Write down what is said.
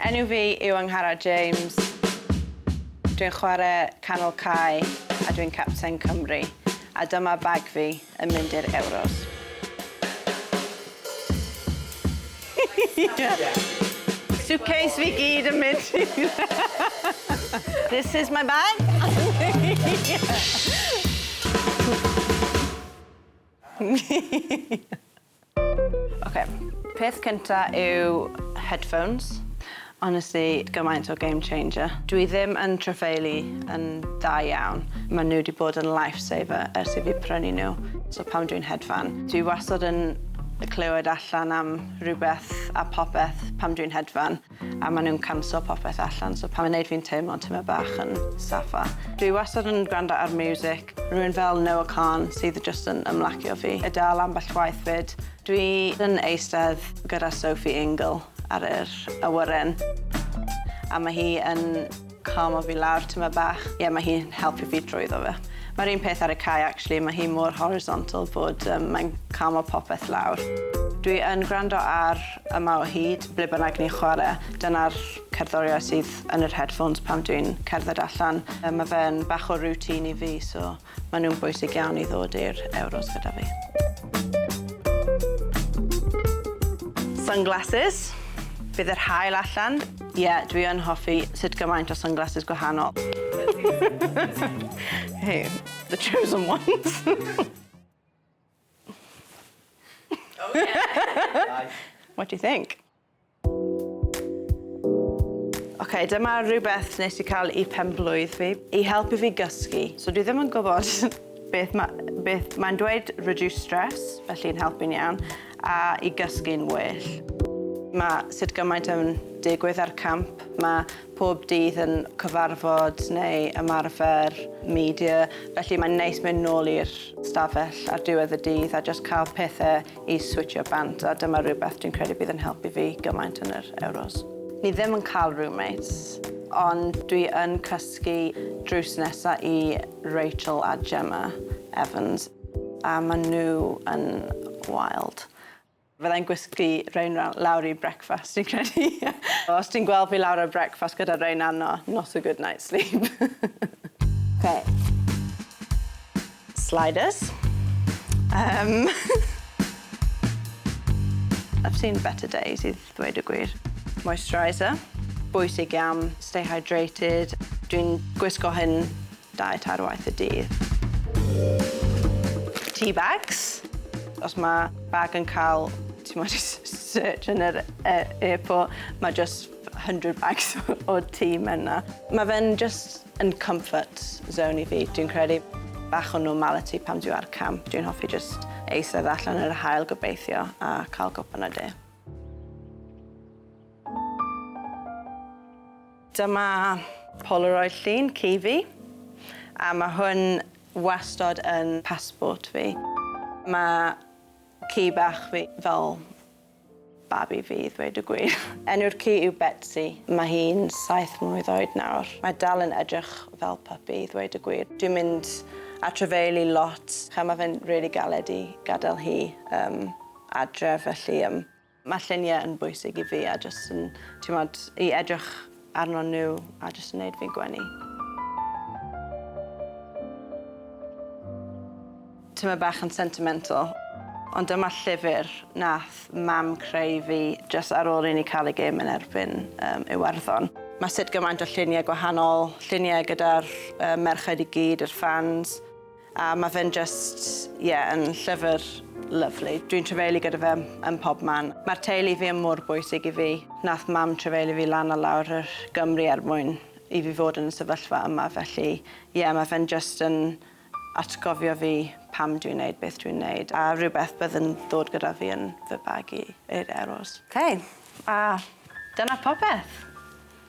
Enw fi yw Angharad James. Dwi'n chwarae canol cae a dwi'n capten Cymru. A dyma bag fi yn mynd i'r Euros. Suitcase fi gyd yn mynd This is my bag. Oce, peth cynta yw headphones. Honestly, gymaint o game changer. Dwi ddim yn trafeilu yn dda iawn. Ma' nhw 'di bod yn life saver ers i fi prynu nhw. So pan dwi'n hedfan, dwi wastad yn clywed allan am rhywbeth a popeth pan dwi'n hedfan. A maen nhw'n canslo popeth allan, so pan mae'n wneud fi'n teimlo tamaid bach yn saffa. Dwi wastad yn gwrando ar miwsig, rhywun fel Noah Kahan sydd jyst yn ymlacio fi, a dal ambell waith 'fyd. Dwi yn eistedd gyda Sophie Ingle ar yr awyren, a mae hi yn... calmo fi lawr tymed bach. Ie mae hi'n helpu fi drwyddo fe. Mae'r un peth ar y cae actually, mae hi mor horizontal bod um, mae'n calmo popeth lawr. Dwi yn gwrando ar Yma o Hyd, ble bynnag ni'n chwarae. Dyna'r cerddoriau sydd yn yr headphones pan dwi'n cerdded allan. Mae fe'n bach o routine i fi, so Maen nhw'n bwysig iawn i ddod i'r Euros gyda fi. Sunglasses. Bydd yr hael allan. Ie, yeah, dwi yn hoffi sut gymaint o sunglasses gwahanol. hey, the chosen ones. oh, yeah. What do you think? okay, dyma rhywbeth nes i cael i penblwydd fi, i helpu fi gysgu. So dwi ddim yn gwybod beth mae'n beth mae dweud reduce stress, felly'n helpu'n iawn, a i gysgu'n well. Mae sut gymaint yn digwydd ar camp, mae pob dydd yn cyfarfod neu ymarfer media, felly mae'n neis mynd nôl i'r stafell ar diwedd y dydd a just cael pethau i switsio bant a dyma rhywbeth dwi'n credu bydd yn helpu fi gymaint yn yr Euros. Ni ddim yn cael roommates ond dwi yn cysgu drws nesa i Rachel a Gemma Evans a ma nhw yn wild. Fyddai'n gwisgu Reina lawr i brecwast dwi'n credu. Os ti'n gweld fi lawr ar brecwast gyda Reina no, not a good night's sleep. Oce. Sliders. Yym. I've seen better days i ddweud y gwir. Moisturiser. Bwysig iawn. Stay hydrated. Dwi'n gwisgo hyn dau, tair waith y dydd. Tea bags. Os mae bag yn cael, timod, search yn yr airport, mae jyst hundred bags o tea mewn 'na. Ma' fe'n jyst yn comfort zone i fi, dwi'n credu. Bach o normality pan dwi ar camp. Dwi'n hoffi jyst eistedd allan yn yr haul, gobeithio, a cael gwpan o de. Dyma Polaroid llun ci fi, a ma' hwn wastod yn passport fi. Ma' ci bach fi fel Babi fi i ddweud y gwir. Enw'r ci yw Betsi. Mae hi'n saith mlwydd oed nawr. Mae dal yn edrych fel puppy i ddweud y gwir. Dwi'n mynd at rhyfeili lot. Ch'mo' ma' fe'n rili galed i gadel hi yym adref felly yym ma' llunie yn bwysig i fi a jyst yn t'mod i edrych arnon nhw a jyst yn neud fi gwenu. Tyma bach yn sentimental, ond dyma llyfr nath mam creu fi jyst ar ôl i ni cael y gêm yn erbyn um, Iwerddon. Mae sut gymaint o lluniau gwahanol, lluniau gyda'r uh, merched i gyd, yr fans. A ma fe'n jyst, ie, yn llyfr lyfli. Dwi'n trefeili gyda fe yn pob man. Mae'r teulu fi yn mor bwysig i fi. Nath Mam trefeili fi lan a lawr yr Gymru er mwyn i fi fod yn y sefyllfa yma, felly ie, ma fe'n jyst yn atgofio fi pam dwi'n neud beth dwi'n neud, a rhywbeth bydd yn ddod gyda fi yn fy bag i i'r Euros. Ok, a dyna popeth.